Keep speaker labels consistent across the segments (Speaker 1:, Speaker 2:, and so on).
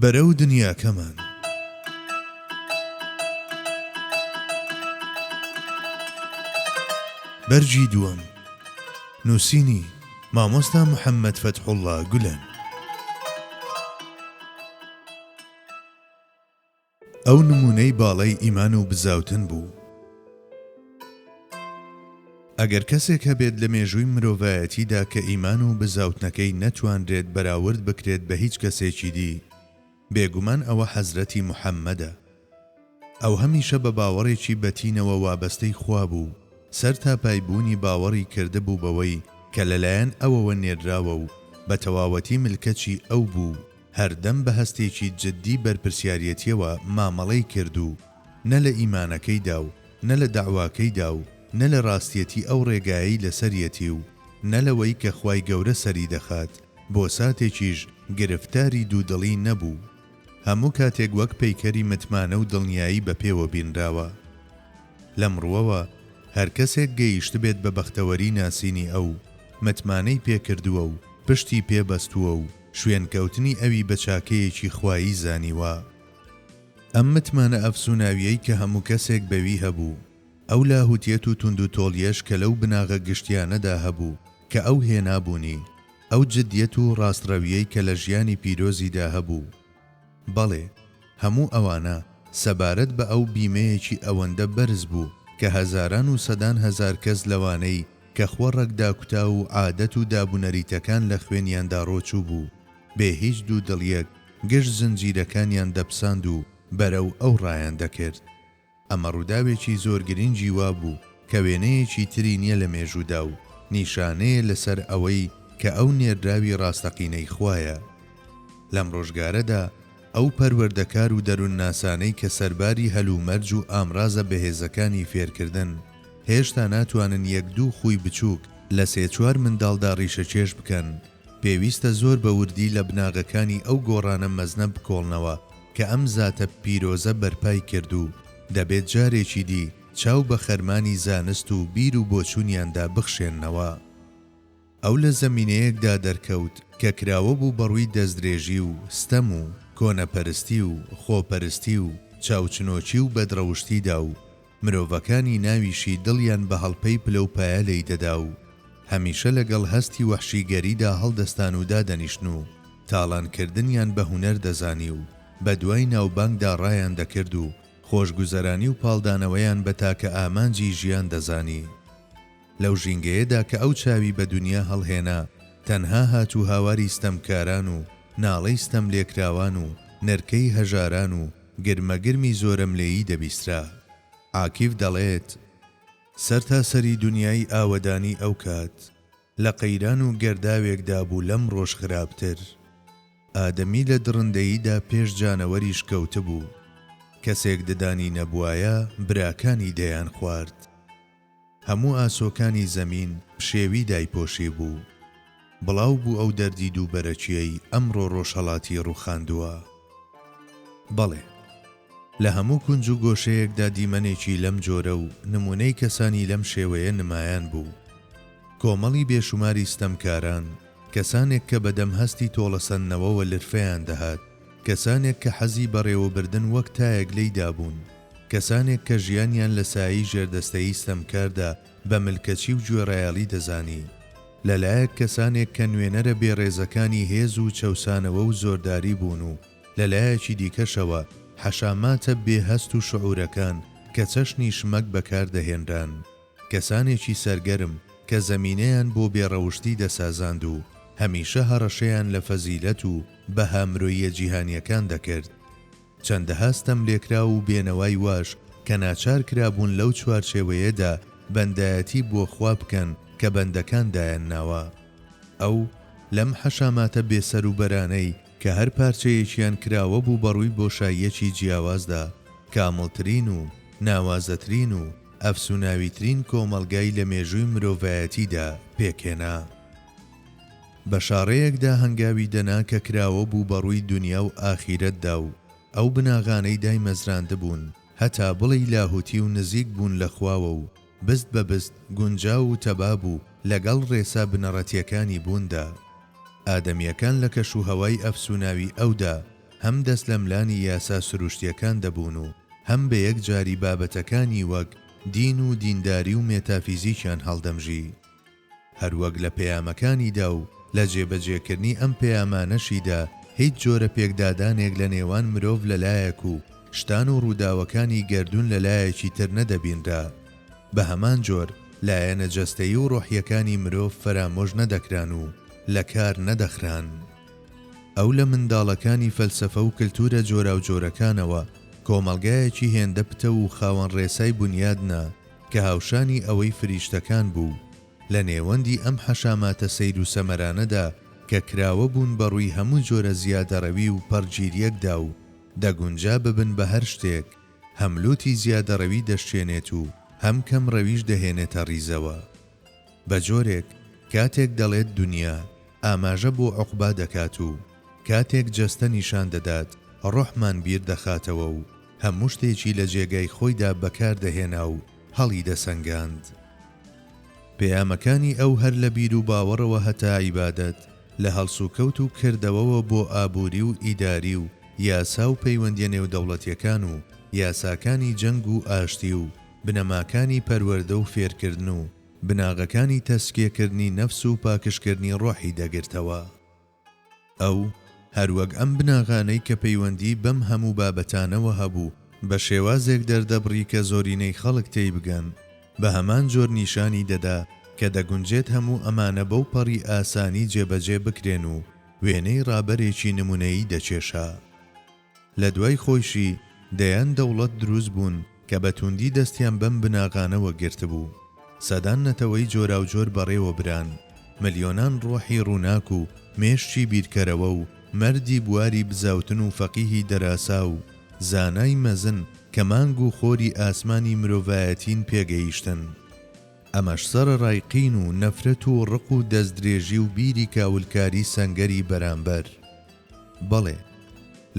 Speaker 1: بەرەو دنیاکەمان. بەرگی دووەم. نووسینی، مامۆستا محەممەد فەتحوڵڵا گولەن. ئەو نموونەی باڵەی ئیمان و بزاوتن بوو. ئەگەر کەسێک هەبێت لە مێژووی مرۆڤایەتیدا کە ئیمان و بزاوتنەکەی نەتوانرێت بەراورد بکرێت بە هیچ کەسێکی دی، بێگومان ئەوە حەزرەتی محەممەدە. ئەو هەمیشە بە باوەڕێکی بەتینەوە وابەستەی خوا بوو، سەرتاپای بوونی باوەڕی کردبوو بەوەی کە لەلایەن ئەوەوە نێرراوە و بە تەواوەتی ملکەچی ئەو بوو، هەردەم بە هەستێکی جدی بەرپرسیاریەتیەوە مامەڵەی کرد و نە لە ئیمانەکەیدا و نە لە دەعواکەیدا و نە لە ڕاستیەتی ئەو ڕێگایەی لەسەریەتی و نە لەوەی کە خوای گەورە سەری دەخات بۆ ساتێکیش گرفتاری دوودڵی نەبوو هەموو کاتێک وەک پەیکەری متمانە و دڵنیایی بە پێوە بینراوە لەم ڕوەوە هەر کەسێک گەیشتبێت بە بەختەوەری ناسینی ئەو متمانەی پێکردووە و پشتی پێ بەستووە و شوێنکەوتنی ئەوی بە چاکەیەکی خوایی زانیوە. ئەم متمانە ئەفسوناویەی کە هەموو کەسێک بەوی هەبوو، ئەو لاهوتیەت و توندوتۆڵیەش کە لەو بناغە گشتیانەدا هەبوو کە ئەو هێنابوونی، ئەو جدیەت و ڕاستڕەویەی کە لە ژیانی پیرۆزیدا هەبوو، بەڵێ، هەموو ئەوانە سەبارەت بە ئەو بیمەیەکی ئەوەندە بەرز بوو کە هەزاران و سەدان هەزار کەس لەوانەی کە خوە ڕەگداکوتاو و عادەت و دابونەریتەکان لە خوێنیاندا ڕۆچووبوو بێ هیچ دوودڵیەک گشت زنجیرەکانیان دەپساند و بەرەو ئەو ڕایان دەکرد. ئەمە ڕووداوێکی زۆر گرنگی وابوو کە وێنەیەکی تری نییە لە مێژوودا و نیشانەیە لەسەر ئەوەی کە ئەو نێردراوی ڕاستەقینەی خوایە. لەم ڕۆژگارەدا ئەو پەروەردەکار و دەروونناسانەی کە سەرباری هەلومەرج و ئامرازە بەهێزەکانی فێرکردن، هێشتا ناتوانن یەک دوو خووی بچووک لە سێ چوار منداڵدا ڕیشەکێش بکەن، پێویستە زۆر بە وردی لە بناغەکانی ئەو گۆڕانە مەزنە بکۆڵنەوە کە ئەم زاتە پیرۆزە بەرپای کرد و دەبێت جارێکی دی چاو بە خەرمانی زانست و بیر و بۆچوونیاندا بخشێننەوە. ئەو لە زەمینەیەکدا دەرکەوت کە کراوە بوو بە ڕووی دەستدرێژی و ستەم و کۆنەپەرستی و خۆپەرستی و چاوچنۆکی و بەدڕەوشتیدا و، مرۆڤەکانی ناویشی دڵیان بە هەڵپەی پلەوپایە لێی دەدا و هەمیشە لەگەڵ هەستی وەحشیگەریدا هەڵدەستان و دادەنیشتن و تاڵانکردنیان بە هونەر دەزانی و بە دوای ناوبانگدا ڕایان دەکرد و خۆشگوزەرانی و پاڵدانەوەیان بە تاکە ئامانجی ژیان دەزانی. لەو ژینگەیەدا کە ئەو چاوی بە دونیا هەڵهێنا، تەنها هاتوهاواری ستەمکاران و ناڵەی ستەملێکراوان و نرکەی هەژاران و گرمەگرمی زۆرەملێیی دەبیسترا. عاکیف دەڵێت، سەرتاسەری دونیای ئاوەدانی ئەوکات، لە قەیران و گەرداوێکدا بوو لەمڕۆش خراپتر. ئادەمی لە دڕندەییدا پێش جانەوەریش کەوتبوو. کەسێک ددانی نەبوایە، براکانی دەیانخوارد. هەموو ئاسۆکانی زەمین پشێوی دایپۆشیبوو. بڵاو بوو ئەو دەردی دووبەرەکییەی ئەمڕۆ ڕۆژهەڵاتی ڕووخاندووە. بەڵێ. لە هەموو کونج و گۆشەیەکدا دیمەنێکی لەم جۆرە و نموونەی کەسانی لەم شێوەیە نمایان بوو. کۆمەڵی بێشوماری ستەمکاران، کەسانێک کە بەدەم هەستی تۆڵەسەندنەوەوە لرفەیان دەهات، کەسانێک کە حەزی بەڕێوەبردن وەک تایەک لێی دابوون، کەسانێک کە ژیانیان لە سایەی ژێردەستەیی ستەمکاردا بە ملکەچی و گوێڕایەڵی دەزانی، لە لایەک کەسانێک کە نوێنەرە بێڕێزەکانی هێز و چەوسانەوە و زۆرداری بوون و لە لایەکی دیکەشەوە حەشاماتە بێ هەست و شعورەکان کە چەشنی شمەک بەکار دەهێنران کەسانێکی سەرگەرم کە زەمینەیان بۆ بێ ڕەوشتی دەسازاند و هەمیشە هەڕەشەیان لە فەزیلەت و بەها مرۆییە جیهانیەکان دەکرد. چەندەها ستەملێکراو و بێنەوای واش کە ناچار کرابوون لەو چوارچێوەیەدا بەندایەتی بۆ خوا بکەن کە بەندەکان دایانناوە. ئەو، لەم حەشاماتە بێسەروبەرانەی کە هەر پارچەیەکیان کراوەبوو بە ڕووی بۆشاییەکی جیاوازدا، کامڵترین و ناوازەترین و ئەفسوناویترین کۆمەڵگای لە مێژووی مرۆڤایەتیدا پێکهێنا. بە شاڕێیەکدا هەنگاوی دەنا کە کراوە بوو بە ڕووی دونیا و ئاخیرەتدا و ئەو بناغانەی دایمەزراندبوون هەتا بڵێی لاهوتی و نزیک بوون لە خواوە و بست بە بست گونجاو و تەبا بوو لە گەڵ ڕێسا بنەڕەتیەکانی بووندا. ئادەمیەکان لە کەش و هەوای ئەفسوناوی ئەودا هەم دەستلەملانی یاسا سروشتیەکان دەبوون و هەم بە یەک جاری بابەتەکانی وەک دین و دینداری و مێتافیزیکیان هەڵدەمژی. هەروەک لە پەیامەکانیدا و لە جێبەجێکردنی ئەم پەیامانەشیدا هیچ جۆرە پێکدادانێک لە نێوان مرۆڤ لە لایەک و شتان و ڕووداوەکانی گەردوون لە لایەکی تر نەدەبینرا. بە هەمان جۆر لایەنە جەستەیی و ڕۆحییەکانی مرۆڤ فەرامۆش نەدەکران و لە کار نەدەخران. ئەو لە منداڵەکانی فەلسەفە و کلتوورە جۆراوجۆرەکانەوە کۆمەڵگایەکی هێندە پتەو و خاوەن ڕێسای بونیاد نا، کە هاوشانی ئەوەی فریشتەکان بوو، لە نێوەندی ئەم حەشاماتە سەیر و سەمەرانەدا کە کراوە بوون بە ڕووی هەموو جۆرە زیادەڕەوی و پەڕگیریەکدا و دەگونجا ببن بە هەر شتێک، هەم لوتی زیادەڕەوی دەشکێنێت و هەم کەم ڕەویش دەهێنێتە ڕیزەوە. بە جۆرێک کاتێک دەڵێت دونیا، ئاماژە بۆ عوقبا دەکات و کاتێک جەستە نیشان دەدات، ڕۆحمان بیر دەخاتەوە و هەموو شتێکی لە جێگای خۆیدا بەکار دەهێنا و هەڵیدەسەنگاند. پەیامەکانی ئەو هەر لە بیروباوەڕەوە هەتا عیبادەت، لە هەڵسوکەوت و کردەوەوە بۆ ئابووری و ئیداری و یاسا و پەیوەندییە نێودەوڵەتییەکان و یاساکانی جەنگ و ئاشتی و بنەماکانی پەروەردە و فێرکردن و بناغەکانی تەزکیەکردنی نەفس و پاکژکردنی ڕۆحی دەگرتەوە. ئەو، هەروەک ئەم بناغانەی کە پەیوەندیی بەم هەموو بابەتانەوە هەبوو، بە شێوازێک دەردەبڕی کە زۆرینەی خەڵک تێیبگەن، بە هەمان جۆر نیشانی دەدا کە دەگونجێت هەموو ئەمانە بەو پەڕی ئاسانی جێبەجێ بکرێن و وێنەی ڕابەرێکی نموونەیی دەکێشا. لە دوای خۆیشی دەیان دەوڵەت دروست بوون کە بە توندی دەستیان بەم بناغانەوە گرتبوو. سەدان نەتەوەی جۆراوجۆر بەڕێوە بران. ملیۆنان ڕۆحی ڕووناک و مێشکی بیرکەرەوە و مەردی بواری بزاوتن و فەقیهی دەراسا و زانای مەزن کە مانگ و خۆری ئاسمانی مرۆڤایەتین پێگەیشتن. ئەمەش سەرەڕای قین و نەفرەت و ڕق و دەستدرێژی و بیری کاولکاری سەنگەری بەرامبەر. بەڵێ،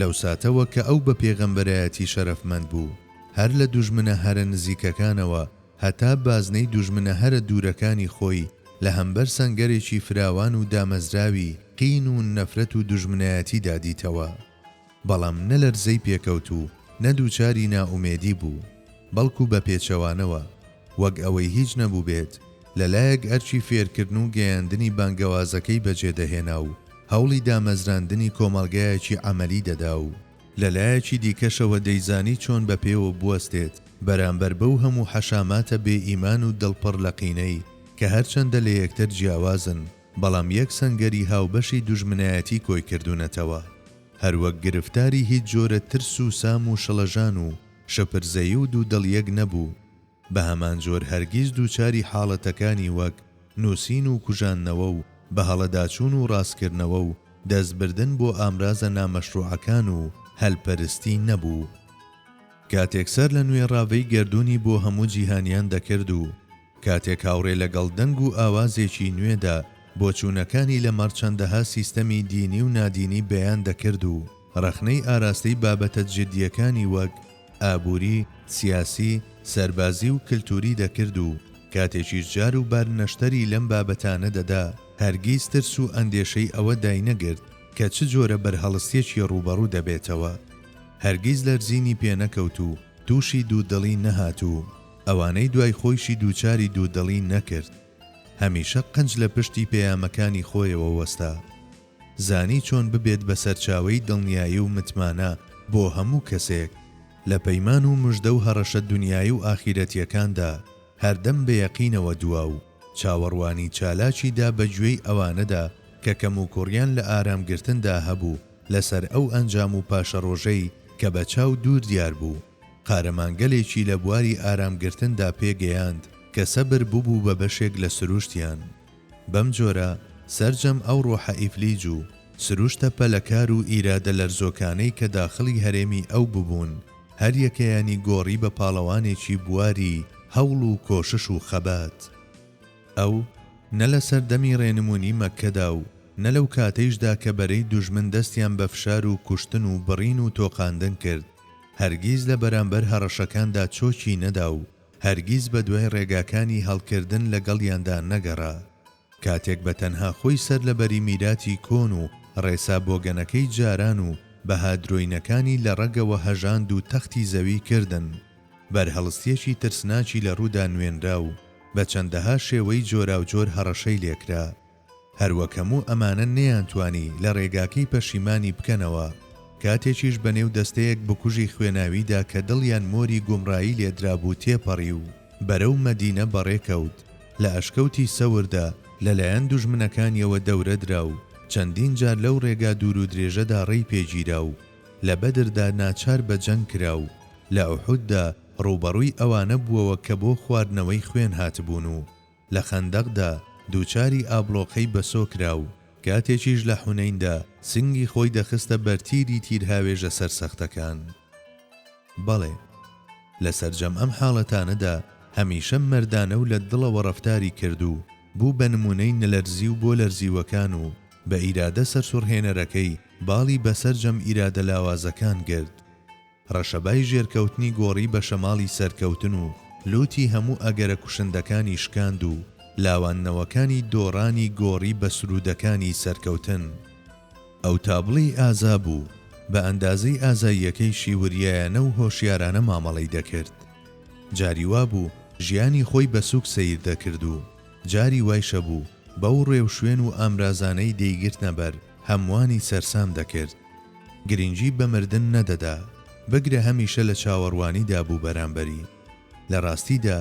Speaker 1: لەو ساتەوە کە ئەو بە پێغەمبەرایەتی شەرەفمەند بوو، هەر لە دوژمنە هەرە نزیکەکانەوە هەتا بازنەی دوژمنە هەرە دوورەکانی خۆی لە هەمبەر سەنگەرێکی فراوان و دامەزراوی قین و نەفرەت و دوژمنایەتیدا دیتەوە. بەڵام نە لەرزەی پێکەوت و نە دووچاری نائومێدی بوو، بەڵکو بە پێچەوانەوە، وەک ئەوەی هیچ نەبووبێت، لە لایەک ئەرکی فێرکردن و گەیاندنی بانگەوازەکەی بەجێدەهێنا و هەوڵی دامەزراندنی کۆمەڵگایەکی عەمەلی دەدا و لە لایەکی دیکەشەوە دەیزانی چۆن بە پێوە بوەستێت بەرامبەر بەو هەموو حەشاماتە بێ ئیمان و دڵ پڕ لە قینەی کە هەرچەندە لە یەکتر جیاوازن بەڵام یەک سەنگەری هاوبەشی دوژمنایەتی کۆی کردونەتەوە هەروەک گرفتاری هیچ جۆرە ترس و سام و شڵەژان و شپرزەیی و دوودڵیەک نەبوو. بەهەمانجۆر هەرگیز دووچاری حاڵەتەکانی وەک نووسین و کوژاندنەوە و بەهەڵەداچوون و ڕاستکردنەوە و دەستبردن بۆ ئامرازە نامەشروعەکان و هەلپەرستی نەبوو. کاتێک سەر لە نوێ ڕاڤەی گەردوونی بۆ هەموو جیهانیان دەکرد و کاتێک هاوڕێ لەگەڵ دەنگ و ئاوازێکی نوێدا بۆچوونەکانی لەمەڕ چەندەها سیستەمی دینی و نادینی بەیان دەکرد و ڕەخنەی ئاراستەی بابەتە جدییەکانی وەک ئابووری، سیاسی، سەربازی و کلتووری دەکرد و کاتێکیش جار و بار نەشتەری لەم بابەتانە دەدا، هەرگیز ترس و ئەندێشەی ئەوە داینەگرت کە چ جۆرە بەرهەڵستێکی ڕووبەڕوو دەبێتەوە. هەرگیز لەرزینی پێ نەکەوت و تووشی دوودڵی نەهات و ئەوانەی دوای خۆیشی دووچاری دوودڵی نەکرد. هەمیشە قنج لە پشتی پەیامەکانی خۆیەوە وەستا. زانی چۆن ببێت بە سەرچاوەی دڵنیایی و متمانە بۆ هەموو کەسێک لە پەیمان و مژدە و هەڕەشە دونیایی و ئاخیرەتیەکاندا هەردەم بە یەقینەوە دوا و چاوەڕوانی چالاکی دا بە گوێی ئەوانەدا کە کەموکوڕیان لە ئارام گرتندا هەبوو لە سەر ئەو ئەنجام و پاشەڕۆژەی کە بە چاو دوور دیار بوو. قارەمانگەلێکی لە بواری ئارام گرتندا پێ گەیاند کە سەبر ببوو بە بەشێک لە سروشتیان. بەم جۆرە سەرجەم ئەو ڕۆحە ئیفلیج و سروشتە پەلەکار و ئیرادە لەرزۆکانەی کە داخڵی هەرێمی ئەو ببوون، هەریەکەیانی گۆڕی بە پاڵەوانێکی بواری هەوڵ و کۆشش و خەبات. ئەو نە لە سەردەمی ڕێنموونی مەککەدا و نە لەو کاتەیشدا کە بەرەی دوژمن دەستیان بە فشار و کوشتن و بڕین و تۆقاندن کرد، هەرگیز لە بەرامبەر هەڕەشەکاندا چۆکی نەدا و، هەرگیز بەدوای ڕێگاکانی هەڵکردن لەگەڵیاندا نەگەڕا. کاتێک بە تەنها خۆی سەر لە بەری میراتی کۆن و ڕێسا بۆگەنەکەی جاران و بەها درۆینەکانی لە ڕەگەوە هەژاند و تەختی زەوی کردن، بەرهەڵستیەکی ترسناکی لە ڕوودا نوێنرا و بە چەندەها شێوەی جۆراوجۆر هەڕەشەی لێکرا. هەروەک هەموو ئەمانە نەیانتوانی لە ڕێگاکەی پەشیمانی بکەنەوە، کاتێکیش بە نێو دەستەیەک بکوژی خوێناویدا کە دڵیان مۆری گومڕایی لێدرابوو تێپەڕی و بەرەو مەدینە بەڕێ کەوت، لە ئەشکەوتی سەوردا لە لایەن دوژمنەکانیەوە دەورە درا و چەندین جار لەو ڕێگا دوور و درێژەدا ڕێی پێ گیرا و لە بەدردا ناچار بە جەنگ کرا و لە ئوحوددا ڕووبەڕووی ئەوانە بووەوە کە بۆ خواردنەوەی خوێن هاتبوون و لە خەندەقدا دووچاری ئابڵۆقەی بەسۆ کرا و کاتێکیش لە حونەیندا سنگی خۆی دەخستە بەر تیری تیرهاوێژە سەرسەختەکان. بەڵێ، لە سەرجەم ئەم حاڵەتانەدا هەمیشە مەردانە و لە دڵەوە ڕەفتاری کرد و بوو بە نموونەی نەلەرزیو بۆ لەرزیوەکان و بە ئیرادە سەرسوڕهێنەرەکەی باڵی بەسەرجەم ئیرادە لاوازەکان گرت. رەشەبای ژێرکەوتنی گۆڕی بە شەماڵی سەرکەوتن و لووتی هەموو ئەگەرە کوشندەکانی شکاند و لاواندنەوەکانی دۆڕانی گۆڕی بە سروودەکانی سەرکەوتن. ئەو تابڵێی ئازا بوو، بە ئەندازەی ئازاییەکەی شیوریایانە و هۆشیارانە مامەڵەی دەکرد. جاری وا بوو ژیانی خۆی بە سووک سەیر دەکرد و جاری وایشەبوو بەو ڕێوشوێن و ئامرازانەی دەیگرتنە بەر هەمووانی سەرسام دەکرد. گرنگی بە مردن نەدەدا، بگرە هەمیشە لە چاوەڕوانیدا بوو بەرامبەری. لە ڕاستیدا،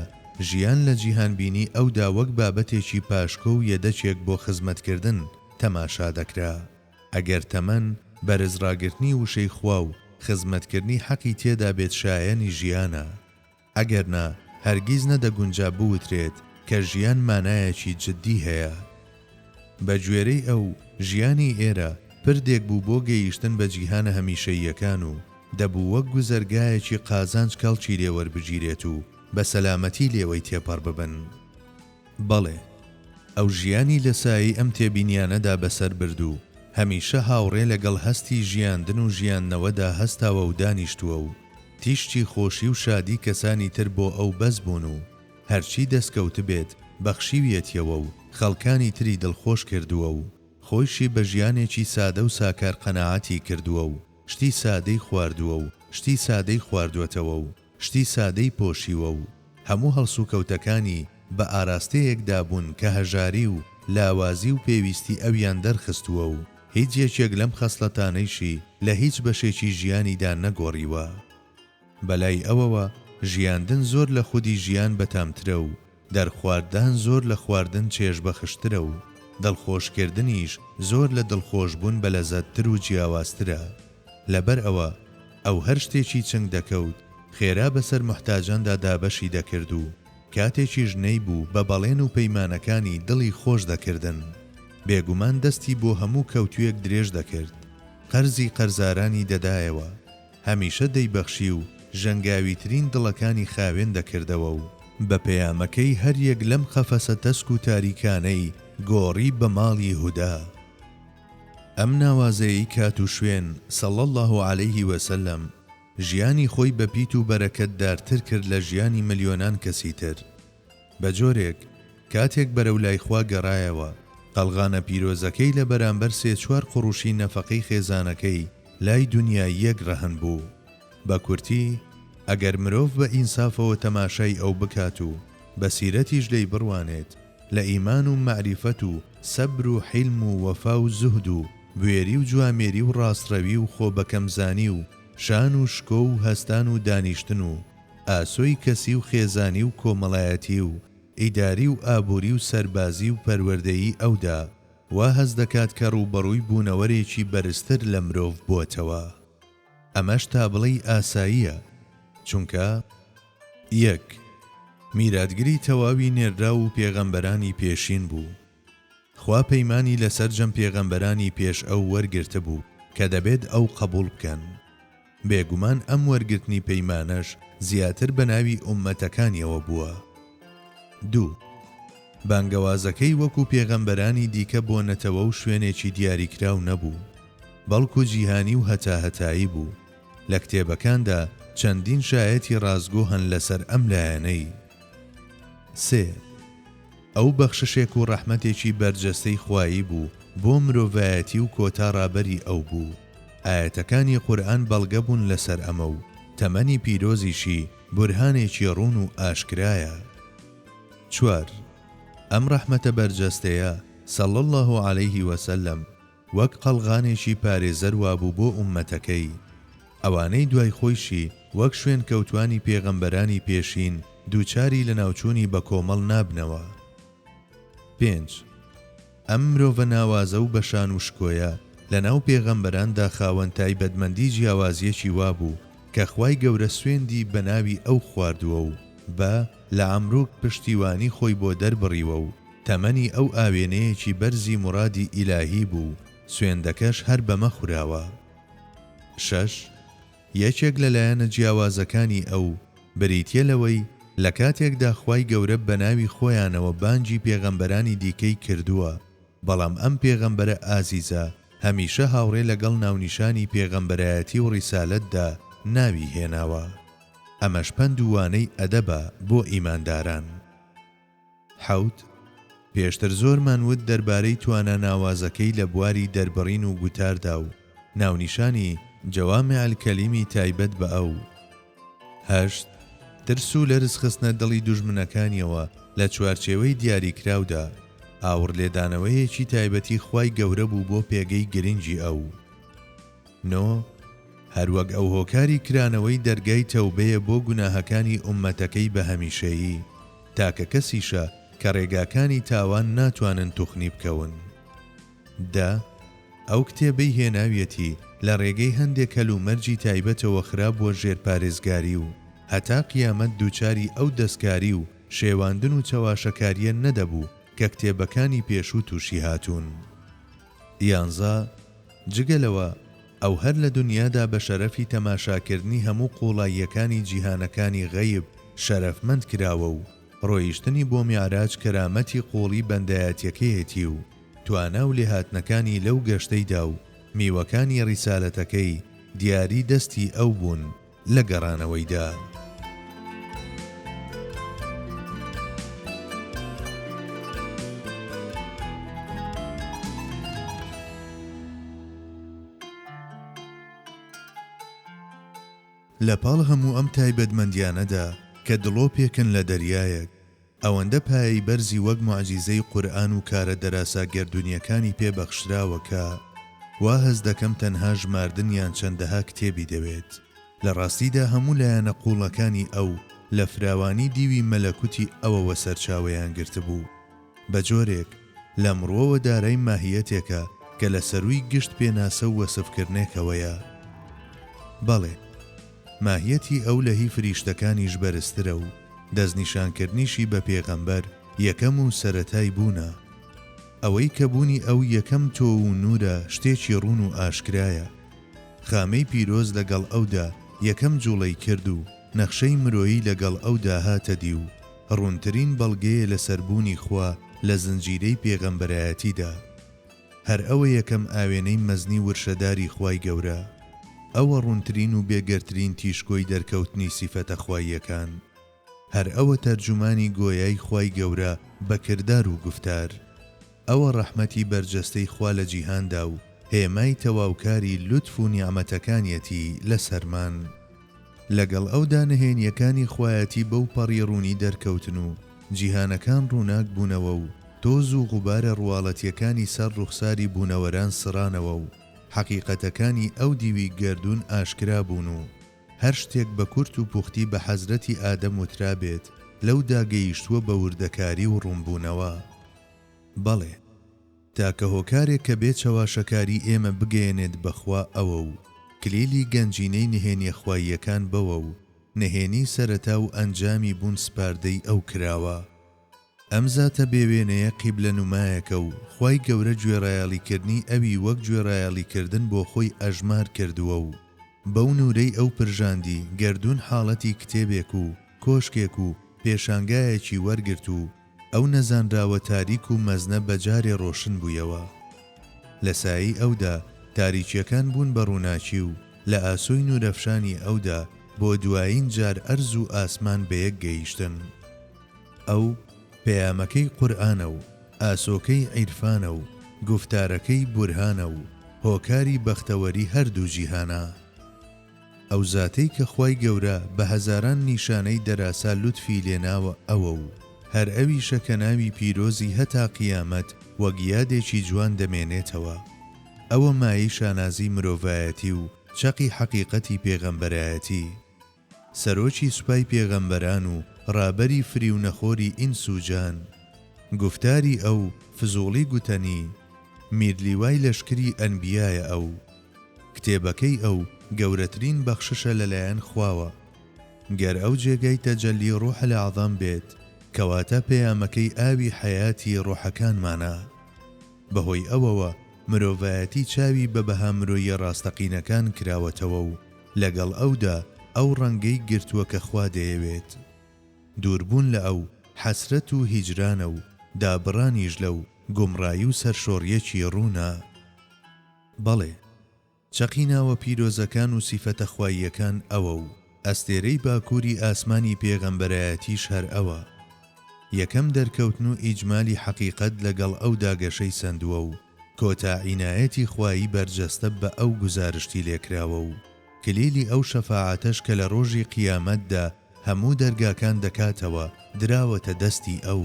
Speaker 1: ژیان لە جیهانبینی ئەودا وەک بابەتێکی پاشکۆ و یەدەکێک بۆ خزمەتکردن تەماشا دەکرا. ئەگەر تەمەن، بەرز ڕاگرتنی وشەی خوا و خزمەتکردنی حەقی تێدا بێت شایەنی ژیانە. ئەگەرنا هەرگیز نەدەگونجا بوترێت کە ژیان مانایەکی جددی هەیە. بە گوێرەی ئەو، ژیانی ئێرە پردێک بوو بۆ گەیشتن بە جیهانە هەمیشەییەکان و دەبوو وەک گوزەرگایەکی قازانج کەڵکی لێ وەربگیرێت و بە سەلامەتی لێوەی تێپەڕ ببن. بەڵێ، ئەو ژیانی لە سایەی ئەم تێبینیانەدا بەسەر برد و هەمیشە هاوڕێ لەگەڵ هەستی ژیاندن و ژیاندنەوەدا هەستاوە و دانیشتووە و تیشکی خۆشی و شادی کەسانی تر بۆ ئەو بەس بوون و هەرچی دەستکەوتبێت بەخشیویەتیەوە و خەڵکانی تری دڵخۆش کردووە و خۆیشی بە ژیانێکی سادە و ساکار قەناعەتی کردووە و شتی سادەی خواردووە و شتی سادەی خواردووەتەوە و شتی سادەی پۆشیوە و هەموو هەڵسوکەوتەکانی بە ئاراستەیەکدا بوون کە هەژاری و لاوازی و پێویستی ئەویان دەرخستووە و هیچ یەکێک لەم خەسڵەتانەیشی لە هیچ بەشێکی ژیانیدا نەگۆڕیوە. بەلای ئەوەوە ژیاندن زۆر لە خودی ژیان بەتامترە و دەرخوارددان زۆر لە خواردن چێژبەخشترە و دڵخۆشکردنیش زۆر لە دڵخۆشبوون بەلەزەتتر و جیاوازترە. لەبەر ئەوە ئەو هەر شتێکی چنگ دەکەوت خێرا بەسەر موحتاجاندا دابەشی دەکرد و کاتێکیش نەیبوو بە بەڵێن و پەیمانەکانی دڵی خۆش دەکردن. بێگومان دەستی بۆ هەموو کەوتوێک درێژ دەکرد. قەرزی قەرزارانی دەدایەوە. هەمیشە دەیبەخشی و ژەنگاویترین دڵەکانی خاوێن دەکردەوە و بە پەیامەکەی هەریەک لەم قەفەسە تەسک و تاریکانەی گۆڕی بە ماڵی هودا. ئەم ناوازەیەی کات و شوێن، صلی اللە علیه وسلم، ژیانی خۆی بە پیت و بەرەکەت دارتر کرد لە ژیانی ملیۆنان کەسی تر. بە جۆرێک، کاتێک بەرەو لای خوا گەرایەوە، قەڵغانە پیرۆزەکەی لە بەرامبەر سێ چوار قوڕوشی نەفەقەی خێزانەکەی، لای دونیاییەک ڕەهەند بوو. بە کورتی، ئەگەر مرۆڤ بە ئینسافەوە تەماشای ئەو بکات و بە سیرەتیش لێی بڕوانێت، لە ئیمان و مەعریفەت و سەبر و حیلم و وەفا و زوهد و، بوێری و جوامێری و ڕاستڕەوی و خۆ بەکەم زانی و شان و شکۆ و هەستان و دانیشتن و ئاسۆی کەسی و خێزانی و کۆمەڵایەتی و ئیداری و ئابووری و سەربازی و پەروەردەیی ئەودا وا هەست دەکات کە ڕووبەڕووی بوونەوەرێکی بەرزتر لە مرۆڤ بۆتەوە ئەمەش تا بڵێی ئاساییە چونکە یەک میراتگری تەواوی نێرراو و پێغەمبەرانی پێشین بوو. خوا پەیمانی لە سەرجەم پێغەمبەرانی پێش ئەو وەرگرتبوو کە دەبێت ئەو قەبووڵ بکەن. بێگومان ئەم وەرگرتنی پەیمانەش زیاتر بە ناوی ئوممەتەکانیەوە بووە. دوو. بانگەوازەکەی وەکو پێغەمبەرانی دیکە بۆ نەتەوە و شوێنێکی دیاریکراو نەبوو، بەڵکو جیهانی و هەتاهەتایی بوو. لە کتێبەکاندا چەندین شایەتی ڕاستگۆ هەن لەسەر ئەم لایەنەی. سێ. ئەو بەخششێک و ڕەحمەتێکی بەرجەستەی خوایی بوو بۆ مرۆڤایەتی و کۆتا ڕابەری ئەو بوو. ئایەتەکانی قورئان بەڵگە بوون لەسەر ئەمە و تەمەنی پیرۆزیشی بورهانێکی ڕوون و ئاشکرایە. چوار، ئەم ڕەحمەتە بەرجەستەیە، صلی اللە علیه وسلم، وەک قەڵغانێکی پارێزەر وابوو بۆ ئوممەتەکەی. ئەوانەی دوای خۆیشی وەک شوێنکەوتوانی پێغەمبەرانی پێشین دووچاری لەناوچوونی بەکۆمەڵ نابنەوە. پێنج، ئەم مرۆڤە ناوازە و بەشان و شکۆیە لەناو پێغەمبەراندا خاوەن تایبەتمەندی جیاوازیەکی وابوو کە خوای گەورە سوێندی بەناوی ئەو خواردووە و بە، لەعەمروک، پشتیوانی خۆی بۆ دەربڕیوە و، تەمەنی ئەو ئاوێنەیەکی بەرزی مورادی ئیلاهی بوو، سوێندەکەش هەر بەمە خوراوە. شەش، یەکێک لە لایەنە جیاوازەکانی ئەو، بریتیە لەوەی لە کاتێکدا خوای گەورە بەناوی خۆیانەوە بانگی پێغەمبەرانی دیکەی کردووە، بەڵام ئەم پێغەمبەرە ئازیزە هەمیشە هاوڕێ لەگەڵ ناونیشانی پێغەمبەرایەتی و ڕیسالەتدا ناوی هێناوە. ئەمەش پەند و وانەی ئەدەبە بۆ ئیمانداران. حەوت، پێشتر زۆرمان وت دەربارەی توانا ناوازەکەی لە بواری دەربڕین و گوتاردا و ناونیشانی، جوامع الکلم، ی تایبەت بە ئەو. هەشت، ترس و لەرز خستنە دڵی دوژمنەکانیەوە لە چوارچێوەی دیاریکراودا، ئاوڕلێدانەوەیەکی تایبەتی خوای گەورە بوو بۆ پێگەی گرنگی ئەو. نۆ، هەروەک ئەو هۆکاری کرانەوەی دەرگای تەوبەیە بۆ گوناهەکانی ئوممەتەکەی بە هەمیشەیی. تاکە کەسیشە کە ڕێگاکانی تاوان ناتوانن توخنی بکەون. دە، ئەو کتێبەی هێناویەتی لە ڕێگەی هەندێک هەل و مەرجی تایبەتەوە خرابووە ژێر پارێزگاری و هەتا قیامەت دووچاری ئەو دەستکاری و شێواندن و چەواشەکاریە نەدەبوو کە کتێبەکانی پێشوو تووشی هاتوون. یانزە، جگە لەوە، ئەو هەر لە دونیادا بە شەرەفی تەماشاکردنی هەموو قوڵاییەکانی جیهانەکانی غەیب شەرەفمەند کراوە و ڕۆیشتنی بۆ میعراج کەرامەتی قوڵی بەندایەتیەکەیەتی و توانا و لێهاتنەکانی لەو گەشتەیدا و میوەکانی ڕیسالەتەکەی دیاری دەستی ئەو بوون. لە گەڕانەوەیدا. لە پاڵ هەموو ئەم تایبەتمەندیانەدا کە دڵۆپێکن لە دەریایەک، ئەوەندە پایەی بەرزی وەک موعجیزەی قورئان و کارە دەراسا گەردوونیەکانی پێ بەخشراوە کە وا هەست دەکەم تەنها ژماردن یان چەندەها کتێبی دەوێت لە ڕاستیدا هەموو لایەنە قووڵەکانی ئەو لە فراوانی دیوی مەلەکوتی ئەوەوە سەرچاوەیان گرتبوو بە جۆرێک لەم ڕوەوە دارای ماهیەتێکە کە لە سەرووی گشت پێناسە و وەسفکرنێکەوەیە بەڵێ ماهیەتی ئەو لە هی فریشتەکانیش بەرزترە و دەستنیشانکردنیشی بە پێغەمبەر یەکەم و سەرەتای بوونە. ئەوەی کە بوونی ئەو یەکەم تۆ و نوورە شتێکی ڕوون و ئاشکرایە. خامەی پیرۆز لە گەڵ ئەودا یەکەم جوڵەی کرد و نەخشەی مرۆیی لە گەڵ ئەودا هاتە دی و ڕوونترین بەڵگەیە لەسەر بوونی خوا لە زنجیرەی پێغەمبەرایەتیدا. هەر ئەوە یەکەم ئاوێنەی مەزنی ورشەداری خوای گەورە، ئەوە ڕوونترین و بێگەردترین تیشکۆی دەرکەوتنی سیفەتە خواییەکان، هەر ئەوە تەرجومانی گۆیای خوای گەورە بە کردار و گوفتار، ئەوە ڕەحمەتی بەرجەستەی خوا لە جیهاندا و هێمای تەواوکاری لوتف و نیعمەتەکانیەتی لەسەرمان. لەگەڵ ئەودا نهێنییەکانی خوایەتی بەو پەڕی ڕوونی دەرکەوتن و جیهانەکان ڕووناک بوونەوە و تۆز و غوبارە ڕواڵەتییەکانی سەر ڕوخساری بوونەوەران سڕانەوە و حەقیقەتەکانی ئەو دیوی گەردوون ئاشکرا بوون و هەر شتێک بە کورت و پوختی بە حەزرەتی ئادەم وترابێت لەودا گەیشتووە بە وردەکاری و ڕوونبوونەوە. بەڵێ. تاکە هۆکارێک کە بێ چەواشەکاری ئێمە بگەیەنێت بە خوا ئەوە و کلیلی گەنجینەی نهێنیە خواییەکان بەوە و نهێنی سەرەتا و ئەنجامی بوون سپاردەی ئەو کراوە. ئەم زاتە بێ وێنەیە قیبلە نومایەکە و خوای گەورە گوێڕایەڵی کردنی ئەوی وەک گوێڕایەڵی کردن بۆ خۆی ئەژمار کردووە و بەو نورەی ئەو پرژاندی گەردوون حاڵەتی کتێبێک و کۆشکێک و پێشانگایەکی وەرگرت و ئەو نەزانراوە تاریک و مەزنە بە جارێ ڕۆشن بوویەوە. لە سایەی ئەودا تاریکییەکان بوون بە ڕووناکی و لە ئاسۆی نوورەفشانی ئەودا بۆ دوایین جار ئەرز و ئاسمان بە یەک گەیشتن. ئەو، پەیامەکەی قورئانە و ئاسۆکەی عیرفانە و گوفتارەکەی بورهانە و هۆکاری بەختەوەری هەردوو جیهانە. ئەو زاتەی کە خوای گەورە بە هەزاران نیشانەی دەراسا لوتفی لێناوە ئەوە و هەر ئەویشە کە ناوی پیرۆزی هەتا قیامەت وەک یادێکی جوان دەمێنێتەوە ئەوە مایەی شانازی مرۆڤایەتی و چەقی حەقیقەتی پێغەمبەرایەتی سەرۆکی سوپای پێغەمبەران و ڕابەری فریونەخۆری ئینس و جان گوفتاری ئەو فزوڵی گوتەنی میرلیوای لەشکری ئەنبیایە ئەو کتێبەکەی ئەو گەورەترین بەخششە لەلایەن خواوە. گەر ئەو جێگای تەجەلی ڕوح الاعظم بێت، کەواتە پەیامەکەی ئاوی حەیاتی ڕوحەکانمانە. بەهۆی ئەوەوە مرۆڤایەتی چاوی بە بەها مرۆییە ڕاستەقینەکان کراوەتەوە و لەگەڵ ئەودا ئەو ڕەنگەی گرتووە کە خوا دەیەوێت. دووربوون لە ئەو، حەسرەت و هیجرانە و دابڕانیش لەو، گومڕایی و سەرشۆڕییەکی ڕوونە. بەڵێ، چەقی ناوە پیرۆزەکان و سیفەتە خواییەکان ئەوە و ئەستێرەی باکووری ئاسمانی پێغەمبەرایەتیش هەر ئەوە. یەکەم دەرکەوتن و ئیجمالی حەقیقەت لەگەڵ ئەودا گەشەی سەندووە و کۆتا عینایەتی خوایی بەرجەستە بە ئەو گوزارشتی لێکراوە و کلیلی ئەو شەفاعەتەش کە لە ڕۆژی قیامەتدا هەموو دەرگاکان دەکاتەوە دراوەتە دەستی ئەو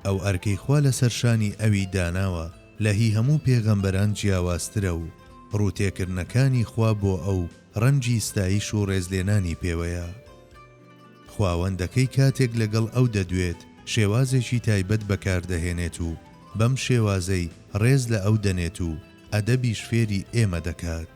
Speaker 1: ئەو ئەرکەی خوا لەسەر شانی ئەوی داناوە لە هی هەموو پێغەمبەران جیاوازترە و ڕووتێکردنەکانی خوا بۆ ئەو ڕەنجی ستایش و ڕێزلێنانی پێوەیە خواوەندەکەی کاتێک لەگەڵ ئەو دەدوێت شێوازێکی تایبەت بەکاردەهێنێت و بەم شێوازەی ڕێز لە ئەو دەنێت و ئەدەبیش فێری ئێمە دەکات.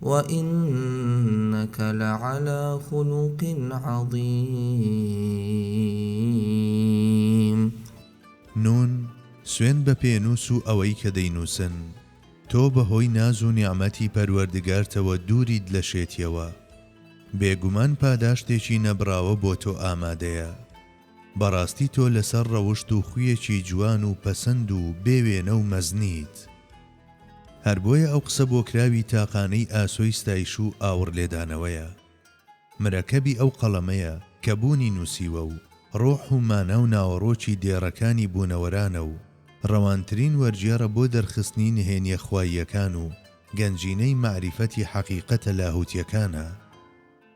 Speaker 2: وانک لعلی خلق عظیم. نون،
Speaker 1: سوێند بە پێنووس و ئەوەی کە دەینووسن، تۆ بە هۆی ناز و نیعمەتی پەروەردگارتەوە دووریت لە شێتیەوە. بێگومان پاداشتێکی نەبڕاوە بۆ تۆ ئامادەیە. بەڕاستی تۆ لەسەر ڕەوشت و خویەکی جوان و پەسەند و بێ وێنە و مەزنیت. هەر بۆیە ئەو قسە بۆکراوی تاقانەی ئاسۆی ستایش و ئاوڕ لێدانەوەیە. مرەکەبی ئەو قەڵەمەیە کە بوونی نووسیوە و ڕۆح و مانا و ناوەڕۆکی دێڕەکانی بوونەوەرانە و ڕەوانترین وەرگێڕە بۆ دەرخستنی نهێنییە خواییەکان و گەنجینەی مەعریفەتی حەقیقەتە لاهووتییەکانە.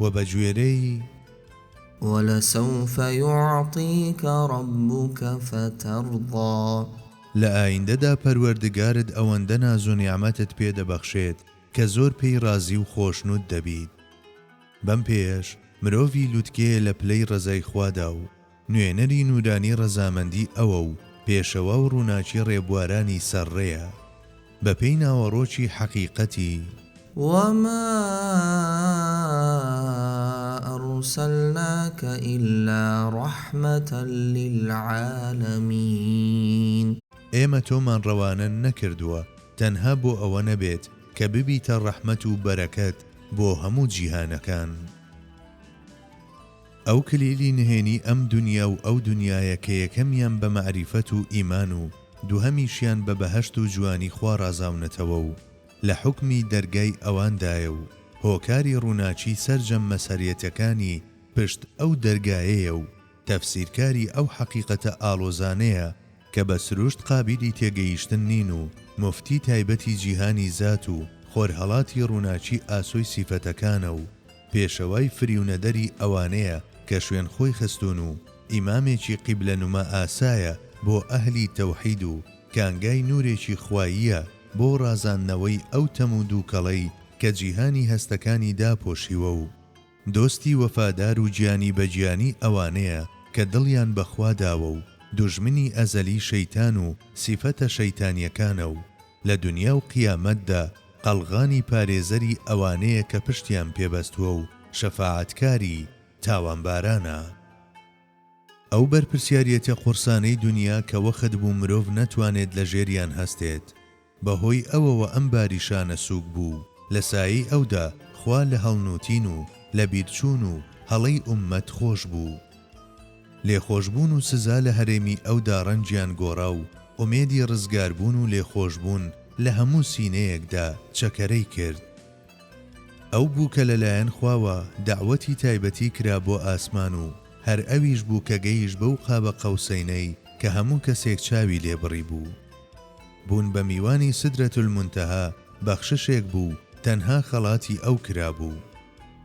Speaker 1: و بە گوێرەی
Speaker 2: ولسوف یعطیک ربک فترضی. لە
Speaker 1: ئایندەدا پەروەردگارت ئەوەندە ناز و نیعمەتت پێ دەبەخشێت کە زۆر پێی ڕازی و خۆشنود دەبیت. بەم پێیەش مرۆڤی لوتکەیە لە پلەی ڕەزای خوادا و نوێنەری نوورانی ڕەزامەندی ئەوە و پێشەوا و ڕووناکی ڕێبوارانی سەر ڕێیە بە پێی ناوەڕۆکی حەقیقەتی. وما
Speaker 2: ارسلناک الا رحمة للعالمین. ئێمە تۆمان
Speaker 1: ڕەوانە نەکردووە تەنها بۆ ئەوە نەبێت کە ببیتە ڕەحمەت و بەرەکەت بۆ هەموو جیهانەکان. ئەو کلیلی نهێنی ئەم دونیا و ئەو دونیایە کە یەکەمیان بە مەعریفەت و ئیمان و دووهەمیشیان بە بەهەشت و جوانی خوا ڕازاونەتەوە و لە حوکمی دەرگای ئەواندایە و هۆکاری ڕووناکی سەرجەم مەسهەریەتەکانی پشت ئەو دەرگایەیە و تەفسیرکاری ئەو حەقیقەتە ئاڵۆزانەیە کە بە سروشت قابیلی تێگەیشتن نین و موفتی تایبەتی جیهانی زات و خۆرهەڵاتی ڕووناکی ئاسۆی سیفەتەکانە و پێشەوای فریونەدەری ئەوانەیە کە شوێن خۆی خستوون و ئیمامێکی قیبلە نوما ئاسایە بۆ ئەهلی تەوحید و کانگای نورێکی خواییە بۆ ڕازاندنەوەی ئەو تەم و دووکەڵەی کە جیهانی هەستەکانی داپۆشیوە و دۆستی وەفادار و گیانی بە گیانی ئەوانەیە کە دڵیان بە خوا داوە و دوژمنی ئەزەلی شەیتان و سیفەتە شەیتانیەکانە و لە دونیا و قیامەتدا قەڵغانی پارێزەری ئەوانەیە کە پشتیان پێ بەستووە و شەفاعەتکاری تاوانبارانە. ئەو بەرپرسیاریەتە قورسانەی دونیا کە وەخت بوو مرۆڤ نەتوانێت لە ژێریان هەستێت بە هۆی ئەوەوە ئەم باری شانە سووک بوو لە سایەی ئەودا خوا لە هەڵنووتین و لەبیرچوون و هەڵەی ئوممەت خۆش بوو. لێخۆشبوون و سزا لە هەرێمی ئەودا ڕەنجیان گۆڕا و ئومێدی ڕزگاربوون و لێخۆشبوون لە هەموو سینەیەکدا چەکەرەی کرد. ئەو بوو کە لەلایەن خواوە دەعوەتی تایبەتی کرا بۆ ئاسمان و هەر ئەویش بوو کە گەیشت بەو قاب قوسەینەی کە هەموو کەسێک چاوی لێ بڕیبوو. بوون بە میوانی سدرەتولمونتەها بەخششێک بوو تەنها خەڵاتی ئەو کرابوو.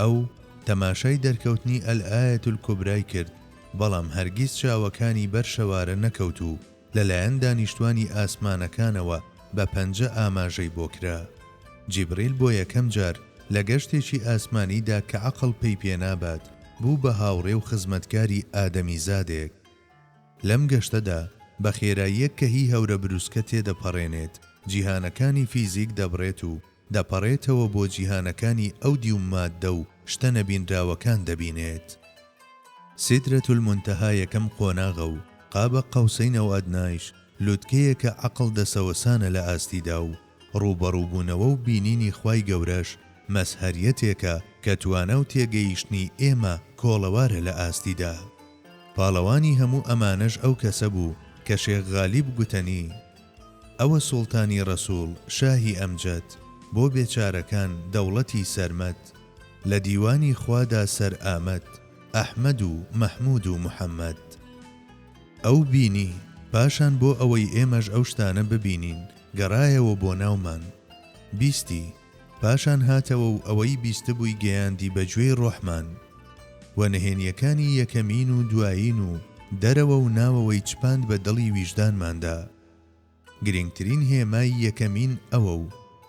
Speaker 1: ئەو تەماشای دەرکەوتنی الآیە الکبرای کرد، بەڵام هەرگیز چاوەکانی بەر شەوارە نەکەوت و لەلایەن دانیشتوانی ئاسمانەکانەوە بە پەنجە ئاماژەی بۆ کرا. جیبریل بۆ یەکەم جار لە گەشتێکی ئاسمانیدا کە عەقڵ پێی پێنابات بوو بە هاوڕێ و خزمەتکاری ئادەمیزادێک. لەم گەشتەدا بە خێراییەک کە هی هەورەبروسکە تێدەپەڕێنێت، جیهانەکانی فیزیک دەبڕێت و دەپەڕێتەوە بۆ جیهانەکانی ئەو دیو ماددە و شتە نەبینراوەکان دەبینێت. سیدرەت المنتهی یەکەم قۆناغە و قاب قوسین او ادنیش لوتکەیەکە عەقڵ دەسەوەسانە لە ئاستیدا و ڕووبەڕووبوونەوە و بینینی خوای گەورەش مەزهەریەتێکە کە توانا و تێگەیشتنی ئێمە کۆڵەوارە لە ئاستیدا. پاڵەوانی هەموو ئەمانەش ئەو کەسە بوو کە شێخ غالیب گوتەنی، ئەوە سوڵتانی ڕەسوڵ شاهی ئەمجەد بۆ بێچارەکان دەوڵەتی سەرمەد لە دیوانی خوادا سەر ئامەد ئەحمەد و مەحمود و محەمەد ئەو بینی پاشان بۆ ئەوەی ئێمەش ئەو شتانە ببینین گەڕایەوە بۆ ناومان بیستی پاشان هاتەوە و ئەوەی بیستبووی گەیاندی بە گوێی ڕۆحمان و نهێنییەکانی یەکەمین و دوایین و دەرەوە و ناوەوەی چپاند بە دڵی ویژدانماندا. گرینگترین هێمای یەکەمین ئەوە و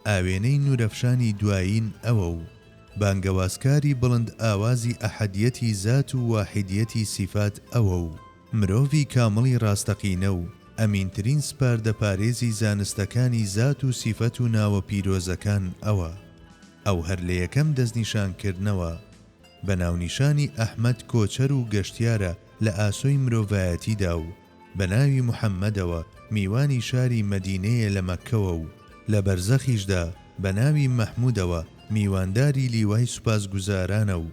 Speaker 1: ئاوێنەی نورەفشانی دوایین ئەوە و بانگەوازکاری بڵند ئاوازی ئەحەدیەتی زات و واحیدیەتی سیفات ئەوە و، مرۆڤی کامڵی ڕاستەقینە و ئەمینترین سپاردە پارێزی زانستەکانی زات و سیفەت و ناوە پیرۆزەکان ئەوە. ئەو هەر لە یەکەم دەستنیشان کردنەوە بە ناونیشانی ئەحمەد کۆچەر و گەشتیارە لە ئاسۆی مرۆڤایەتیدا و بە ناوی محەمەدەوە میوانی شاری مەدینەیە لە مەککەوە و لە بەرزەخیشدا بە ناوی مەحمودەوە میوانداری لیوای سوپاسگوزارانە و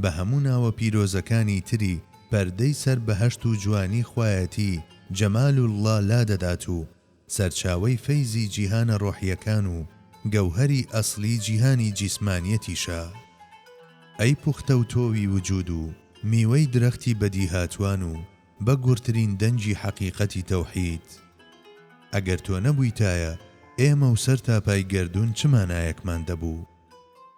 Speaker 1: بە هەموو ناوە پیرۆزەکانی تری پەردەی سەر بەهەشت و جوانی خوایەتی جمال اللە لادەدات و سەرچاوەی فەیزی جیهانە ڕۆحیەکان و گەوهەری ئەسڵی جیهانی جیسمانیەتیشە ئەی پوختەو تۆوی وجود و میوەی درەختی بەدیهاتوان و بە گورترین دەنگی حەقیقەتی تەوحید. ئەگەر تۆ نەبویتایە ئێمە و سەر تا پای گەردون چ مانایەکمان دەبوو؟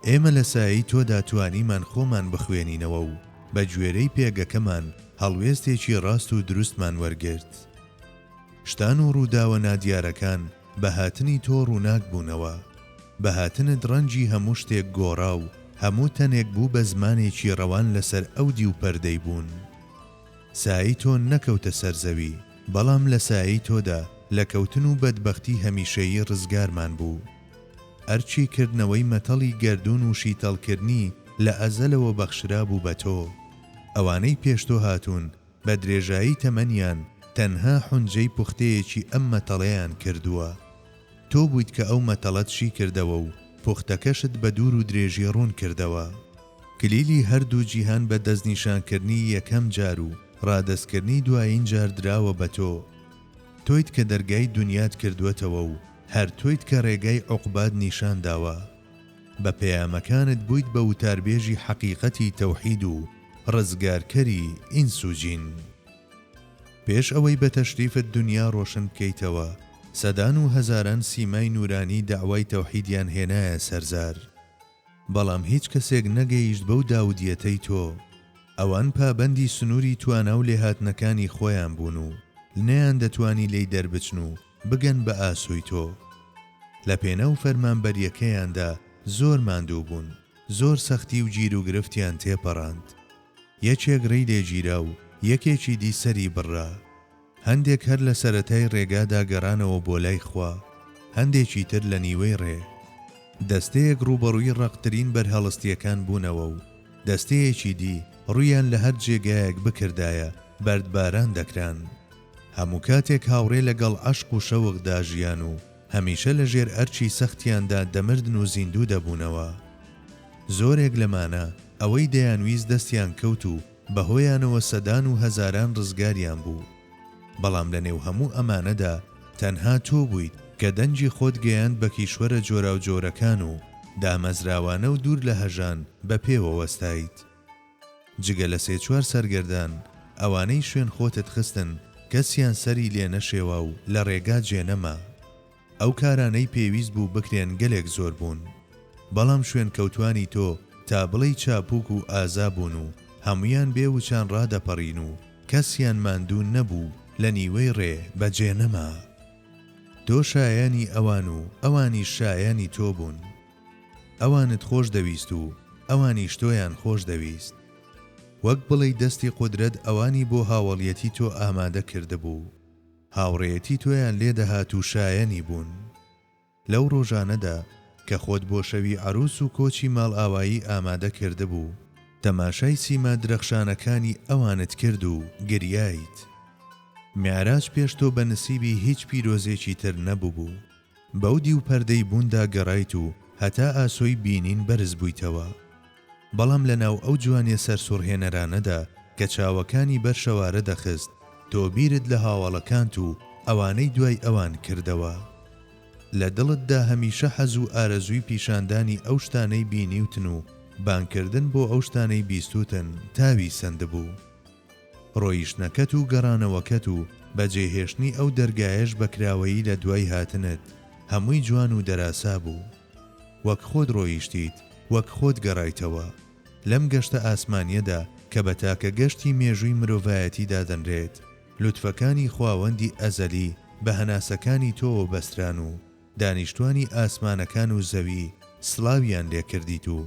Speaker 1: ئێمە لە سایەی تۆدا توانیمان خۆمان بخوێنینەوە و بە گوێرەی پێگەکەمان هەڵوێستێکی ڕاست و دروستمان وەرگرت. شتان و ڕووداوە نادیارەکان بە هاتنی تۆ ڕووناک بوونەوە. بە هاتنت ڕەنگی هەموو شتێک گۆڕا و هەموو تەنێک بوو بە زمانێکی ڕەوان لەسەر ئەو دیو پەردەی بوون. سایەی تۆ نەکەوتە سەر زەوی، بەڵام لە سایەی تۆدا لە کەوتن و بەدبەختی هەمیشەیی ڕزگارمان بوو. ئەرکی کردنەوەی مەتەڵی گەردوون و شیتەڵکردنی لە ئەزەلەوە بەخشرابوو بە تۆ. ئەوانەی پێش تۆ هاتوون بە درێژایی تەمەنیان تەنها حونجەی پوختەیەکی ئەم مەتەڵەیان کردووە. تۆ بوویت کە ئەو مەتەڵەت شیکردەوە و پوختەکەشت بە دوور و درێژی ڕوون کردەوە. کلیلی هەردوو جیهان بە دەستنیشانکردنی یەکەم جار و ڕادەستکردنی دوایین جار دراوە بە تۆ. تۆیت کە دەرگای دونیات کردووەتەوە و هەر تۆیت کە ڕێگای عوقبات نیشان داوە. بە پەیامەکانت بوویت بە وتاربێژی حەقیقەتی تەوحید و ڕزگارکەری ئینس و جین. پێش ئەوەی بە تەشریفت دونیا ڕۆشن بکەیتەوە، سەدان و هەزاران سیمای نوورانی دەعوای تەوحیدیان هێنایە سەرزار. بەڵام هیچ کەسێک نەگەیشت بەو داودیەتەی تۆ، ئەوان پابەندی سنوری توانا و لێهاتنەکانی خۆیان بوون و نەیان دەتوانی لێی دەربچن و بگەن بە ئاسۆی تۆ. لە پێناو فەرمانبەریەکەیاندا زۆر ماندوو بوون، زۆر سەختی و گیروگرفتیان تێپەڕاند. یەکێک ڕێی لێگیرا و یەکێکی دی سەری بڕرا. هەندێک هەر لە سەرەتای ڕێگادا گەڕانەوە بۆ لای خوا، هەندێکی تر لە نیوەی ڕێ. دەستەیەک ڕووبەڕووی ڕەقترین بەرهەڵستییەکان بوونەوە و دەستەیەکی دی ڕوویان لە هەر جێگایەک بکردایە بەردباران دەکران. هەموو کاتێک هاوڕێ لەگەڵ عەشق و شەوقدا ژیان و هەمیشە لە ژێر ئەرکی سەختیاندا دەمردن و زیندوو دەبوونەوە. زۆرێک لەمانە ئەوەی دەیانویست دەستیان کەوت و بەهۆیانەوە سەدان و هەزاران ڕزگاریان بوو، بەڵام لە نێو هەموو ئەمانەدا تەنها تۆ بوویت کە دەنگی خۆت گەیاند بە کیشوەرە جۆراوجۆرەکان و دامەزراوانە و دوور لە هەژان بە پێوە وەستایت. جگە لە سێ چوار سەرگەردان، ئەوانەی شوێن خۆتت خستن کەسیان سەری لێ نەشێوا و لە ڕێگا جێ نەما. ئەو کارانەی پێویست بوو بکرێن گەلێک زۆر بوون بەڵام شوێنکەوتوانی تۆ تا بڵێی چاپوک و ئازا بوون و هەموویان بێ وچان ڕادەپەڕین و کەسیان ماندوو نەبوو لە نیوەی ڕێ بە جێ نەما. تۆ شایانی ئەوان و ئەوانیش شایانی تۆ بوون. ئەوانت خۆش دەویست و ئەوانیش تۆیان خۆش دەویست. وەک بڵێی دەستی قودرەت ئەوانی بۆ هاوەڵیەتی تۆ ئامادە کردبوو. هاوڕێیەتی تۆیان لێ دەهات و شایەنی بوون. لەو ڕۆژانەدا کە خۆت بۆ شەوی عەرووس و کۆچی ماڵئاوایی ئامادە کردبوو، تەماشای سیما درەخشانەکانی ئەوانت کرد و گریایت. میعراج پێش تۆ بە نسیبی هیچ پیرۆزێکی تر نەبووبوو. بەو دیو پەردەی بووندا گەڕایت و هەتا ئاسۆی بینین بەرز بوویتەوە. بەڵام لە ناو ئەو جوانیە سەرسوڕهێنەرانەدا کە چاوەکانی بەر شەوارە دەخست، تۆ بیرت لە هاوەڵەکانت و ئەوانەی دوای ئەوان کردەوە. لە دڵتدا هەمیشە حەز و ئارەزووی پیشاندانی ئەو شتانەی بینیوتن و بانگکردن بۆ ئەو شتانەی بیستووتن تاوی سەندبوو. ڕۆیشتنەکەت و گەڕانەوەکەت و بەجێهێشتنی ئەو دەرگایەش بە کراوەیی لە دوای هاتنت، هەمووی جوان و دەراسا بوو. وەک خۆت ڕۆیشتیت، وەک خۆت گەڕایتەوە. لەم گەشتە ئاسمانیەدا کە بە تاکە گەشتی مێژووی مرۆڤایەتی دادەنرێت، لوتفەکانی خواوەندی ئەزەلی بە هەناسەکانی تۆوە بەستران و دانیشتوانی ئاسمانەکان و زەوی سڵاویان لێ کردیت و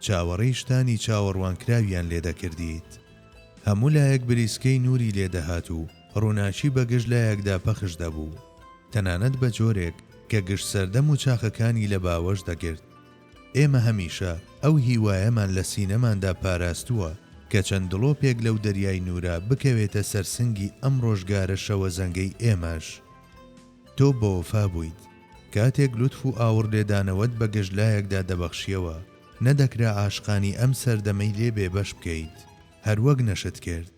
Speaker 1: چاوەڕێی شتانی چاوەڕوانکراویان لێ دەکردیت. هەموو لایەک بریسکەی نووری لێ دەهات و ڕووناکی بە گشت لایەکدا پەخش دەبوو، تەنانەت بە جۆرێک کە گشت سەردەم و چاخەکانی لە باوەش دەگرت. ئێمە هەمیشە ئەو هیوایەمان لە سینەماندا پاراستووە کە چەند دڵۆپێک لەو دەریای نوورە بکەوێتە سەر سنگی ئەم ڕۆژگارە شەوەزەنگەی ئێمەش. تۆ بەوەفا بوویت. کاتێک لوتف و ئاوڕ لێدانەوەت بە گشت لایەکدا دەبەخشییەوە، نەدەکرا عاشقانی ئەم سەردەمەی لێ بێبەش بکەیت، هەروەک نەشت کرد.